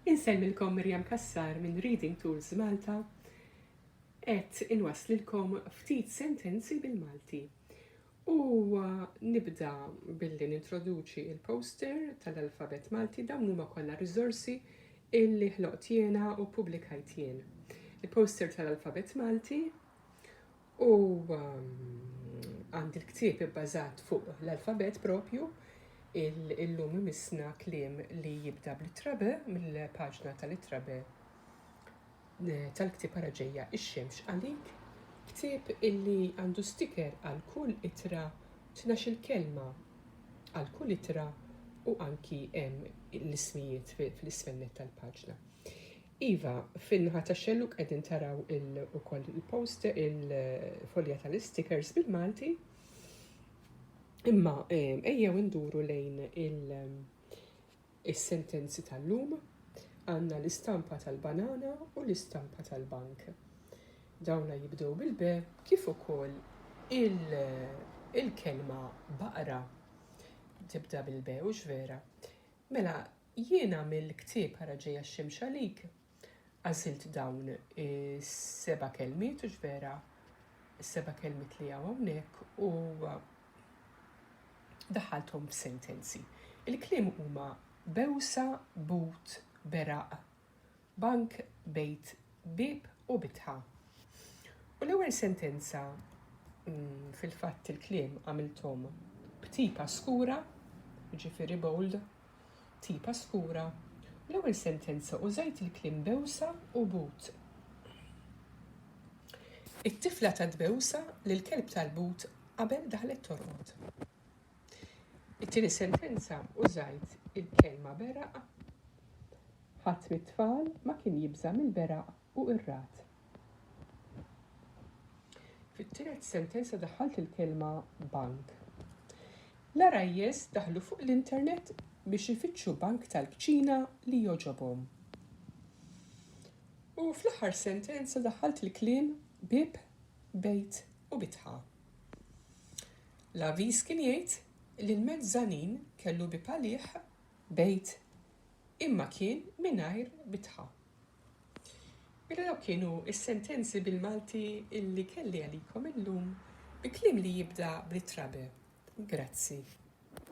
Insellmilkom Miriam Cassar minn Reading Tools Malta. Qed inwasslilkom ftit sentenzi bil-Malti. U nibda billi nintroduċi il-poster tal-alfabet Malti dawn huma kollha riżorsi illi ħloqt jiena u publikajt jien. Il-poster tal-alfabet Malti U għandi l-ktieb ibbażat fuq l-alfabet propju, illum imissna kliem li jibda bl-ittra B mill-paġna tal-ittra B eh, tal-ktieb ara ġejja ix-xemx għalik, ktieb illi għandu sticker għal kull itra tnax il-kelma għal kull itra u anki hemm l-ismijiet fl-isfennet tal-paġna. Iva, fin-naħa tax-xellug qegħdin taraw ukoll il-post il-folja tal-istikers bil-Malti. Imma ehm, ejjew induru lejn il-sentenzi tal-lum għandna l-istampa tal-banana u l-istampa tal-bank. Dawna jibdew bil-be kif ukoll il-kelma baqra tibda bil-be u vera. Mela, Jiena mill-ktieb Ara Ġejja x-Xemx Għalik għażilt dawn is-seba' kelmiet u x'vera s-seba' kelmiet li hawn hawnhekk u daħħalthom f'sentenzi. Il-kliem huma bewsa, but, beraq, Bank, bejt, bieb u bitħa. U l-ewwel sentenza, fil-fatt il-kliem għamilthom b'tipa skura, jiġifieri bold, tipa skura, u l-ewwel sentenza użajt il-kliem bewsa u but. It-tifla tat bewsa lill-kelb tal-but qabel daħlet torqod. It-tieni sentenza użajt il-kelma beraq. Ħadd mit-tfal ma kien jibża' mill-beraq u qirrat. Fit-tielet sentenza daħħalt il-kelma bank. L-għarajjes daħlu fuq l-internet biex ifittxu bank tal-kċina li jogħġobhom. U fl-aħħar sentenza daħħalt il-kliem bieb, bejt u bitħa. L-avviż kien jgħid li l-mezzanin kellu bieb għalih. Bejt, imma kien mingħajr bitħa. Mela dawk kienu s-sentenzi bil-Malti li kelli għalikom illum bi kliem li jibda bl-ittra be. Grazzi.